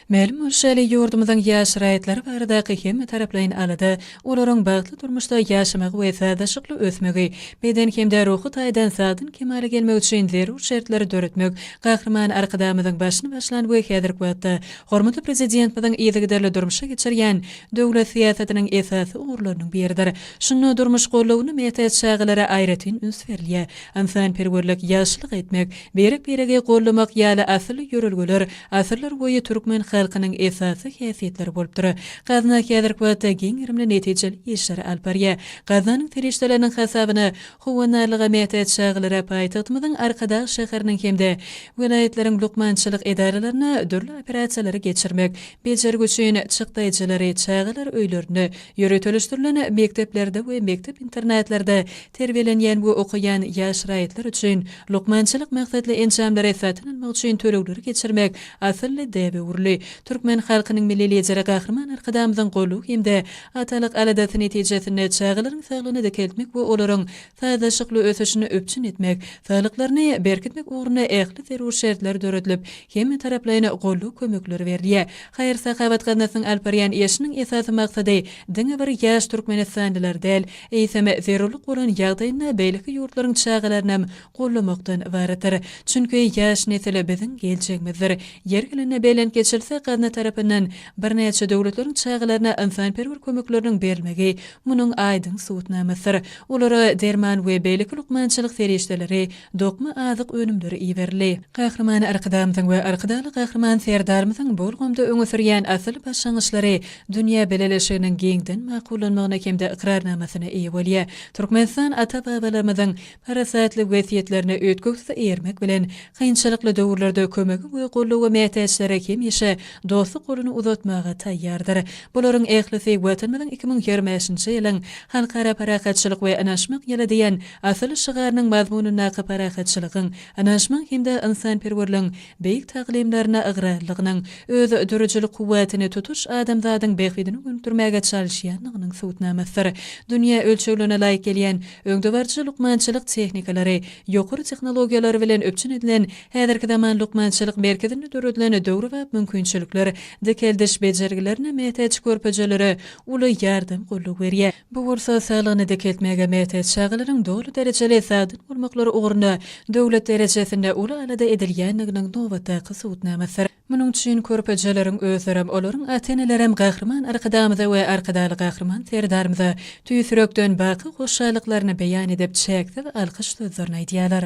Mälim bolşy ýaly, ýurdumyzyň ýaş raýatlary baradaky hemmetaraplaýyn alada, olaryň bagtly durmuşda ýaşamagy we sazlaşykly ösmegi, beden hem-de ruhy taýdan sagdyn kemala gelmegi üçin zerur şertleri döretmek Gahryman Arkadagymyzyň başyny başlan we häzirki wagtda hormatly Prezidentmiziň yzygiderli durmuşa geçirýän döwlet syýasatynyň esasy ugurlarynyň biridir. Şunda durmuş gollawyna mätäç çagalara aýratyn üns berilýär. Ynsanperwerlik, ýagşylyk etmek, Birek-biregi gollamak ýaly asylly ýörelgeler asyrlar boýy türkmen halkynyň esasy häsiýetleri bolupdyr. Gazna häzirki wagtda giň gerimli netijeli işleri alyp barýar. Gaznanyň serişdeleriniň hasabyna Howandarlyga mätäç çagalara paýtagtymyzyň Arkadag şäheriniň hem-de welaýatlaryň lukmançylyk edaralaryna dürli operasiýalary geçirmek, bejergi üçin çykdaýjylary, çagalar öýlerine, Ýöriteleşdirilen mekdeplerde we mekdep-internatlarda terbiýelenýän we okaýan ýaş raýatlar üçin lukmançylyk maksatly enjamlary satyn almak üçin tölegleri geçirmek asylly däbe öwrüldi. Türkmen halkynyň Milli Lideri Gahryman Arkadagymyzyň goldawy hem-de atalyk aladasy netijesinde çagalaryň saglygyny dikeltmek we olaryň sazlaşykly ösüşini üpjün etmek, saglyklaryny berkitmek ugrunda ähli zerur şertler döredilip, hemmetaraplaýyn goldaw-kömekler berilýär. Haýyr-sahawat gaznasynyň alyp barýan işiniň esasy maksady diňe bir ýaş türkmenistanlylar däl, eýsem, zerurlyk bolan ýagdaýynda beýleki ýurtlaryň çagalarynam goldamakdan ybaratdyr. Çünki ýaş nesil biziň geljegimizdir. Ýeri gelende belent geçilse, gazna tarapyndan birnäçe döwletleriň çagalaryna ynsanperwer kömekleriniň berilmegi Munuň aýdyň subut namasdyr. Olara derman we beýleki lukmançylyk serişdeleri, dokma azyk önümleri iberildi. Gahryman Arkadagymyzyň we Arkadagly Gahryman Serdarymyzyň bu ulgamda öňe sürýän asyl başlangyçlary dünýä bileleşiginiň giňden makullanmagyna hem-de ykrarnamasyna eýe bolýar. Türkmenistan ata-babalarymyzyň parasatly wesýetlerine üýtgewsiz eýermek bilen, kynçylykly döwürlerde kömege we goldawa mätäçlere hemişe dostluk goluny uzatmaga taýýardyr. Bularyň ählisi Watanymyzyň iki müň ýigrimi bäşinji ýylyň Halkara parahatçylyk we ynanyşmak ýyly diýen asylly şygarynyň mazmunyndaky parahatçylygyň, ynanyşmagyň hem-de ynsanperwerligiň beýik taglymaryna ygrarlygynyň, özdürüjilik kuwwatyny tutuş adamzadyň bähbidine gönükdirmäge çalyşýandygynyň subutnamasydyr. Dünýä ölçeglerine laýyk gelýän, öňdebaryjy lukmançylyk tehnikalary, ýokary tehnologiýalar bilen üpjün edilen häzirki zaman lukmançylyk merkezinde döredilen döwrebap mümkinçilikler dikeldiş bejergilerine mätäç körpejelere uly ýardam gollugy berýär. Bu bolsa saglygyny dikeltmäge mätäç çagalaryň doly derejeli sagdyn bolmaklary ugrunda döwlet derejesinde uly alada edilýändiginiň nobatdaky subutnamasydyr. Munuň üçin körpejeleriň özlerem, olaryň ata-enelerem Gahryman Arkadagymyza we Arkadagly Gahryman Serdarymyza tüýs ýürekden baky hoşallyklaryny beýan edip, çäksiz alkyş sözlerini aýdýarlar.